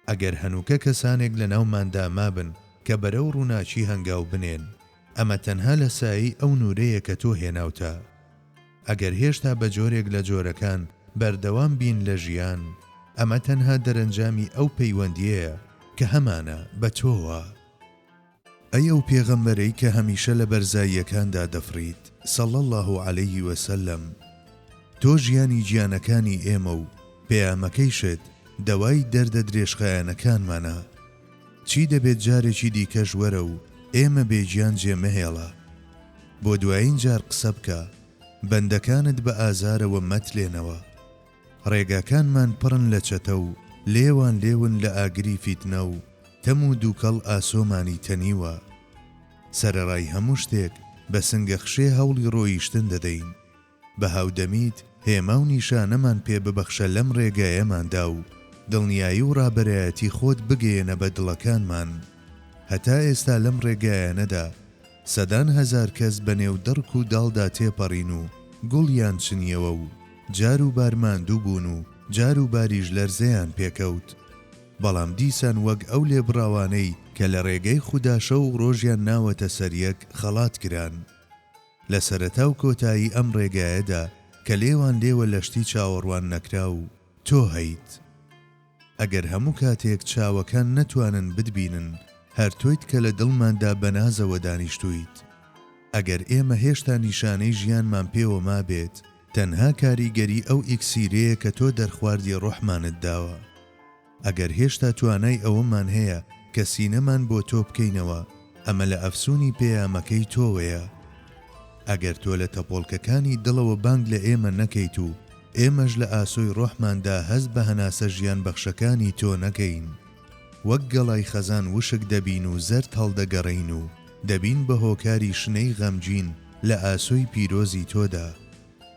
Speaker 1: ئەگەر هەنووکە کەسانێک لەناوماندا مابن کە بەرەو ڕووناکی هەنگاو بنێن، ئەمە تەنها لە سایەی ئەو نوورەیە کە تۆ هێناوتە. ئەگەر هێشتا بە جۆرێک لە جۆرەکان بەردەوام بین لە ژیان، ئەمە تەنها دەرەنجامی ئەو پەیوەندییەیە کە هەمانە بە تۆوە. ئەی ئەو پێغەمبەرەی کە هەمیشە لە بەرزاییەکاندا دەفڕیت، صلی اللە علیە و سلم، تۆ ژیانی گیانەکانی ئێمە و پەیامەکەیشت دەوای دەردە درێژخایەنەکانمانە، چی دەبێت جارێکی دیکەش وەرە و ئێمە بێ گیان جێ مەهێڵە، بۆ دوایین جار قسە بکە، بەندەکانت بە ئازارەوە مەتلێنەوە. ڕێگاکانمان پڕن لە چەتە و لێوان لێون لە ئاگری فیتنە و تەم و دووکەڵ ئاسۆمانی تەنیوە. سەرەڕای هەموو شتێک بە سنگەخشێ هەوڵی ڕۆیشتن دەدەین. بە هاودەمیت هێما و نیشانەمان پێ ببەخشە لەم ڕێگایەماندا و دڵنیایی و ڕابەرایەتی خۆت بگەیەنە بە دڵەکانمان. هەتا ئێستا لەم ڕێگایانەدا سەدان هەزار کەس بە نێو دڕک و داڵدا تێپەڕین و گوڵیان چنیەوە و، جار و بار ماندوو بوون و جار و باریش لەرزەیان پێکەوت، بەڵام دیسان وەک ئەو لێبڕاوانەی کە لە ڕێگەی خودا شەو و ڕۆژیان ناوەتە سەر یەک خەڵات کران. لە سەرەتا و کۆتایی ئەم ڕێگایەدا کە لێوان لێوە لە شتی چاوەڕوان نەکراو تۆ هەیت. ئەگەر هەموو کاتێک چاوەکان نەتوانن بتبینن، هەر تۆیت کە لە دڵماندا بە نازەوە دانیشتوویت. ئەگەر ئێمە هێشتا نیشانەی ژیانمان پێوە مابێت، تەنها کاریگەری ئەو ئیکسیرەیە کە تۆ دەرخواردی ڕۆحمانت داوە. ئەگەر هێشتا توانای ئەوەمان هەیە کە سینەمان بۆ تۆ بکەینەوە، ئەمە لە ئەفسوونی پەیامەکەی تۆوەیە. ئەگەر تۆ لە تەپۆڵکەکانی دڵەوە بانگ لە ئێمە نەکەیت و ئێمەش لە ئاسۆی ڕۆحماندا هەست بە هەناسە ژیان بەخشەکانی تۆ نەکەین، وەک گەڵای خەزان وشک دەبین و زەرد هەڵدەگەڕێین و دەبین بە هۆکاری شنەی غەمگین لە ئاسۆی پیرۆزی تۆدا.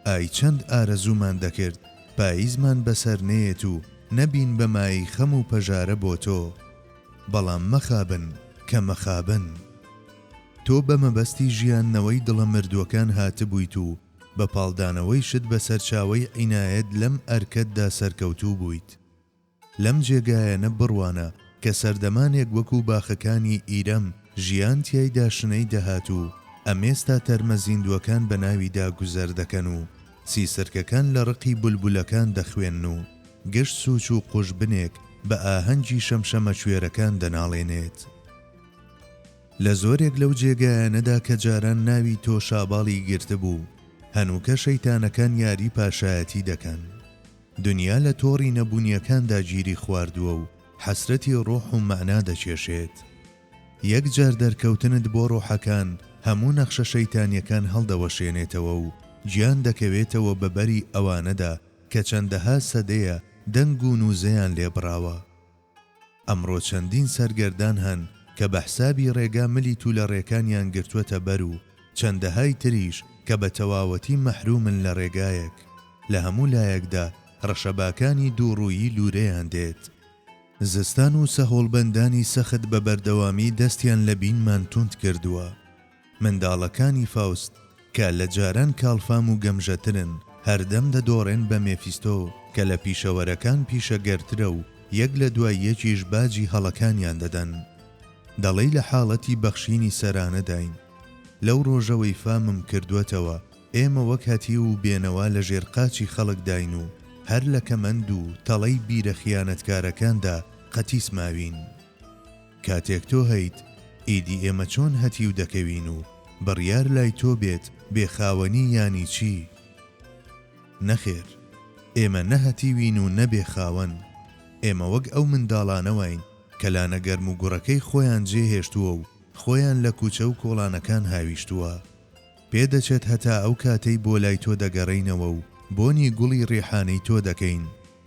Speaker 1: ئای چەند ئارەزوومان دەکرد پاییزمان بەسەر نەیەت و نەبین بە مایەی خەم و پەژارە بۆ تۆ. بەڵام مەخابن کە مەخابن. تۆ بە مەبەستی ژیاندنەوەی دڵە مردووەکان هاتبوویت و بە پاڵدانەوەیشت بە سەرچاوەی عینایەت لەم ئەرکەتدا سەرکەوتوو بوویت. لەم جێگایەنە بڕوانە کە سەردەمانێک وەکوو باخەکانی ئیرەم ژیان تیایدا شنەی دەهات و ئەمێستا تەرمە زیندووەکان بە ناویدا گوزەر دەکەن و سیسرکەکان لە ڕقی بولبولەکان دەخوێن و گشت سووچ و قوژبنێک بە ئاهەنگی شەمشەمەکوێرەکان دەناڵێنێت. لە زۆرێک لەو جێگایانەدا کە جاران ناوی تۆ شاباڵی گرتبوو، هەنووکە شەیتانەکان یاری پاشایەتی دەکەن. دنیا لە تۆڕی نەبوونییەکاندا گیری خواردووە و حەسرەتی ڕۆح و مەعنا دەکێشێت. یەک جار دەرکەوتنت بۆ ڕۆحەکان هەموو نەخشە شەیتانیەکان هەڵدەوەشێنێتەوە و گیان دەکەوێتەوە بە بەری ئەوانەدا کە چەندەها سەدەیە دەنگ و نوزەیان لێ بڕاوە. ئەمڕۆ چەندین سەرگەردان هەن کە بە حسابی ڕێگا ملی تولەڕێکانیان گرتوەتە بەر و چەندەهای تریش کە بە تەواوەتی مەحرومن لە ڕێگایەک لە هەموو لایەکدا ڕەشەباکانی دووڕوویی لورەیان دێت. زستان و سەهۆڵبەندانی سەخت بە بەردەوامی دەستیان لە بینمان توند کردووە. منداڵەکانی فاوست، کە لە جاران کاڵفام و گەمژەترن، هەردەم دەدۆڕێن بە مێفیستۆ، کە لە پیشەوەرەکان پیشەگەرترە و یەک لە دوای یەکیش باجی هەڵەکانیان دەدەن. دەڵێی لە حاڵەتی بەخشینی سەرانەداین. لەو ڕۆژەوەی فامم کردووەتەوە، ئێمە وەک هەتیو و بێنەوا لە ژێر قاچی خەڵکداین و هەر لە کەمەند و تەڵەی بیرە خیانەتکارەکاندا قەتیس ماوین. کاتێک تۆ هەیت، ئیدی ئێمە چۆن هەتیو دەکەوین و بڕیار لای تۆ بێت بێ خاوەنی یانی چی؟ نەخێر، ئێمە نە هەتیوین و نە بێ خاوەن. ئێمە وەک ئەو منداڵانەواین کە لانە گەرموگوڕەکەی خۆیان جێهێشتووە و خۆیان لە کوچە و کۆڵانەکان هاویشتووە. پێ دەچێت هەتا ئەو کاتەی بۆ لای تۆ دەگەڕێینەوە و بۆنی گوڵی ڕیحانەی تۆ دەکەین،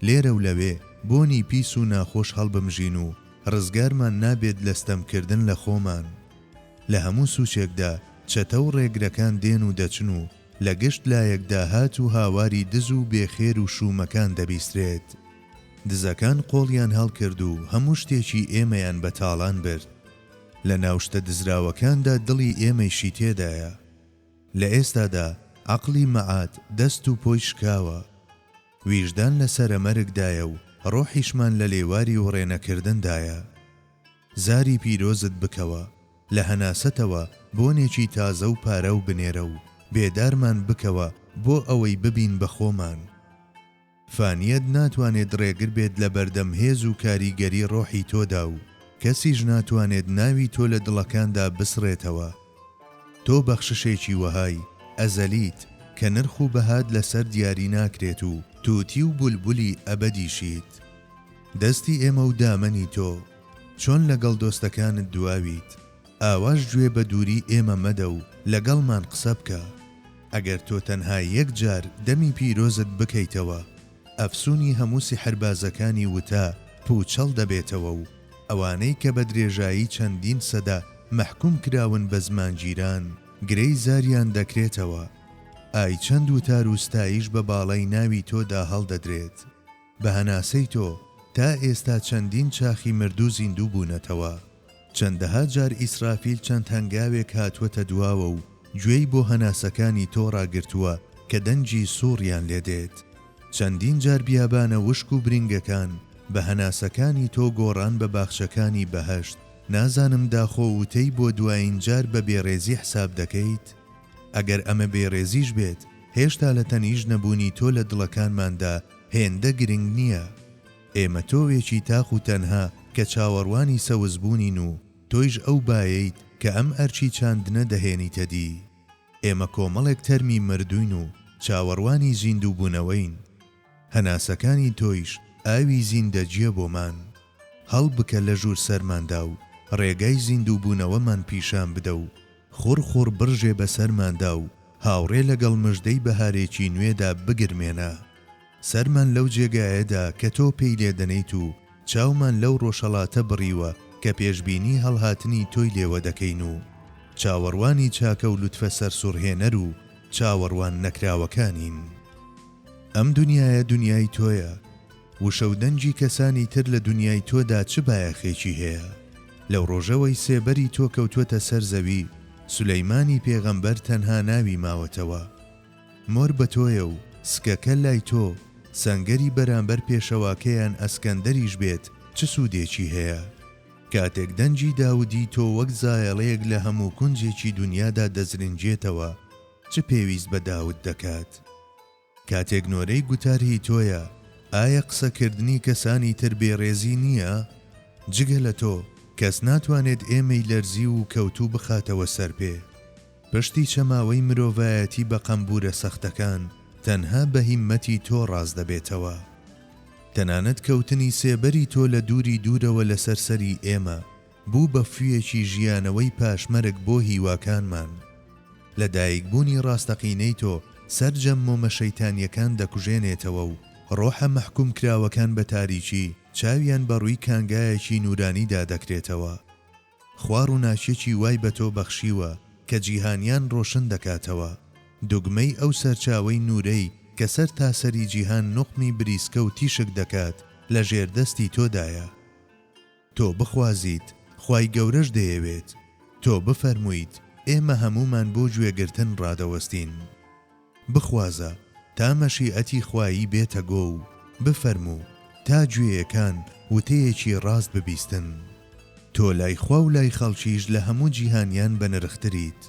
Speaker 1: لێرە و لەوێ بۆنی پیس و ناخۆش هەڵبمژین و ڕزگارمان نابێت لە ستەمکردن لە خۆمان. لە هەموو سوچێکدا چەتە و ڕێگرەکان دێن و دەچن و لە گشت لایەکدا هات و هاواری دز و بێ خێر و شوومەکان دەبیسترێت. دزەکان قۆڵیان هەڵکرد و هەموو شتێکی ئێمەیان بە تاڵان برد. لە ناو شتە دزراوەکاندا دڵی ئێمەیشی تێدایە. لە ئێستادا عەقڵی مەعاد دەست و پۆی شکاوە. ویژدان لە سەرە مەرگدایە و ڕۆحیشمان لە لێواری وڕێنەکردندایە. زاری پیرۆزت بکەوە، لە هەناسەتەوە بۆنێکی تازە و پاراو بنێرە و بێدارمان بکەوە بۆ ئەوەی ببین بە خۆمان. فانیت ناتوانێت ڕێگر بێت لە بەردەم هێز و کاریگەری ڕۆحی تۆدا و کەسیش ناتوانێت ناوی تۆ لە دڵەکاندا بسڕێتەوە. تۆ بەخششێکی وەهای ئەزەلیت کە نرخ و بەهات لەسەر دیاری ناکرێت و تووتی و بولبولی ئەبەدیشیت. دەستی ئێمە و دامەنی تۆ. چۆن لەگەڵ دۆستەکانت دواویت، ئاواش گوێ بە دووری ئێمە مەدە و لەگەڵمان قسە بکە. ئەگەر تۆ تەنها یەک جار دەمی پیرۆزت بکەیتەوە ئەفسونی هەموو سیحربازەکانی وتا پوچەڵ دەبێتەوە و ئەوانەی کە بە درێژایی چەندین سەدە مەحکوم کراون بە زمانگیران گرێی زاریان دەکرێتەوە ئای چەند وتار و ستایش بە باڵای ناوی تۆدا هەڵدەدرێت. بە هەناسەی تۆ تا ئێستا چەندین چاخی مردوو زیندوو بوونەتەوە. چەندەها جار ئیسرافیل چەند هەنگاوێک هاتووەتە دواوە و گوێی بۆ هەناسەکانی تۆ ڕاگرتووە کە دەنگی سووڕیان لێ دێت. چەندین جار بیابانە وشک و برینگەکان بە هەناسەکانی تۆ گۆڕان بە باخچەکانی بەهەشت. نازانم داخۆ وتەی بۆ دوایین جار بە بێڕێزی حساب دەکەیت؟ ئەگەر ئەمە بێڕێزیش بێت، هێشتا لە تەنیشت نەبوونی تۆ لە دڵەکانماندا هێندە گرنگ نییە. ئێمە تۆوێکی تاق و تەنها کە چاوەڕوانی سەوزبوونین و تۆیش ئەو بایەیت کە ئەم ئەرکی چاندنە دەهێنیتە دی. ئێمە کۆمەڵێک تەرمی مردووین و چاوەڕوانی زیندووبوونەوەین. هەناسەکانی تۆیش ئاوی زیندەگییە بۆمان. هەڵبکە لە ژوور سەرماندا و ڕێگای زیندووبوونەوەمان پیشان بدە و خوڕ خوڕ بڕژێ بە سەرماندا و هاوڕێ لەگەڵ مژدەی بەهارێکی نوێدا بگرمێنە سەرمان لەو جێگایەدا کە تۆ پێی لێ دەنێیت و چاومان لەو ڕۆژهەڵاتە بڕیوە کە پێشبینی هەڵهاتنی تۆی لێوە دەکەین و چاوەڕوانی چاکە و لوتفە سەرسوڕهێنەر و چاوەڕوان نەکراوەکانین. ئەم دونیایە دونیای تۆیە، وشە و دەنگی کەسانی تر لە دونیای تۆدا چ بایەخێکی هەیە؟ لەو ڕۆژەوەی سێبەری تۆ کەوتووەتە سەر زەوی، سولەیمانی پێغەمبەر تەنها ناوی ماوەتەوە. مۆر بە تۆیە و سکەکە لای تۆ، سەنگەری بەرامبەر پێشەواکەیان ئەسکەندەریش بێت چ سوودێکی هەیە؟ کاتێک دەنگی داودی تۆ وەک زایەڵەیەک لە هەموو کونجێکی دونیادا دەزرنگێتەوە، چ پێویست بە داود دەکات؟ کاتێک نۆرەی گوتار هی تۆیە ئایا قسە کردنی کەسانی تر بێ ڕێزی نییە؟ جگە لە تۆ کەس ناتوانێت ئێمەی لەرزیو و کەوتوو بخاتەوە سەر پێ. پشتی چەماوەی مرۆڤایەتی بە قەمبوورە سەختەکان تەنها بە هیممەتی تۆ ڕاست دەبێتەوە. تەنانەت کەوتنی سێبەری تۆ لە دووری دوورەوە لەسەر سەری ئێمە بوو بە فویەکی ژیانەوەی پاشمەرگ بۆ هیواکانمان. لە دایک بوونی ڕاستەقینەی تۆ سەرجەم مۆمە شەیتانیەکان دەکوژێنێتەوە و ڕۆحە مەحکوم کراوەکان بە تاریکی چاویان بە ڕووی کانگایەکی نورانیدا دەکرێتەوە. خوا ڕووناکیەکی وای بە تۆ بەخشیوە کە جیهانیان ڕۆشن دەکاتەوە. دوگمەی ئەو سەرچاوەی نورەی کە سەرتاسەری جیهان نوقمی بریسکە و تیشک دەکات لە ژێر دەستی تۆدایە. تۆ بخوازیت، خوای گەورەش دەیەوێت، تۆ بفەرموویت، ئێمە هەموومان بۆ گوێگرتن ڕادەوەستین. بخوازە، تا مەشیئەتی خوایی بێتە گۆ و بفەرموو، تا گوێیەکان وتەیەکی ڕاست ببیستن. تۆ لای خوا و لای خەڵکیش لە هەموو جیهانیان بەنرختریت.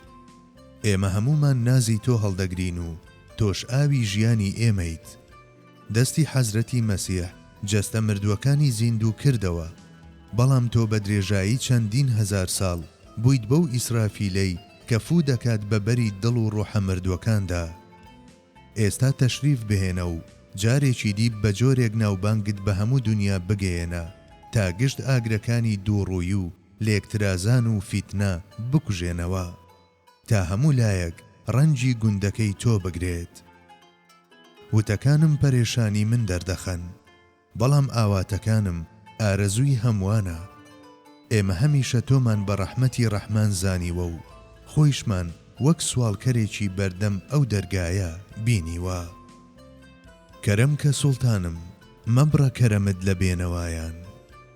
Speaker 1: ئێمە هەموومان نازی تۆ هەڵدەگرین و تۆش ئاوی ژیانی ئێمەیت. دەستی حەزرەتی مەسیح جەستە مردووەکانی زیندوو کردەوە، بەڵام تۆ بە درێژایی چەندین هەزار ساڵ بوویت بەو ئیسرافیلەی کە فوو دەکات بە بەری دڵ و ڕۆحە مردووەکاندا. ئێستا تەشریف بهێنە و جارێکی دی بە جۆرێک ناوبانگت بە هەموو دونیا بگەیەنە تا گشت ئاگرەکانی دووڕووی و لێکترازان و فیتنە بکوژێنەوە. تا هەموو لایەک ڕەنجی گوندەکەی تۆ بگرێت. وتەکانم پەرێشانی من دەردەخەن، بەڵام ئاواتەکانم ئارەزووی هەمووانە. ئێمە هەمیشە تۆمان بە ڕەحمەتی ڕەحمان زانیوە و خۆیشمان وەک سواڵکەرێکی بەردەم ئەو دەرگایە بینیوە. کەرەم کە سوڵتانم، مەبڕە کەرەمت لە بێنەوایان.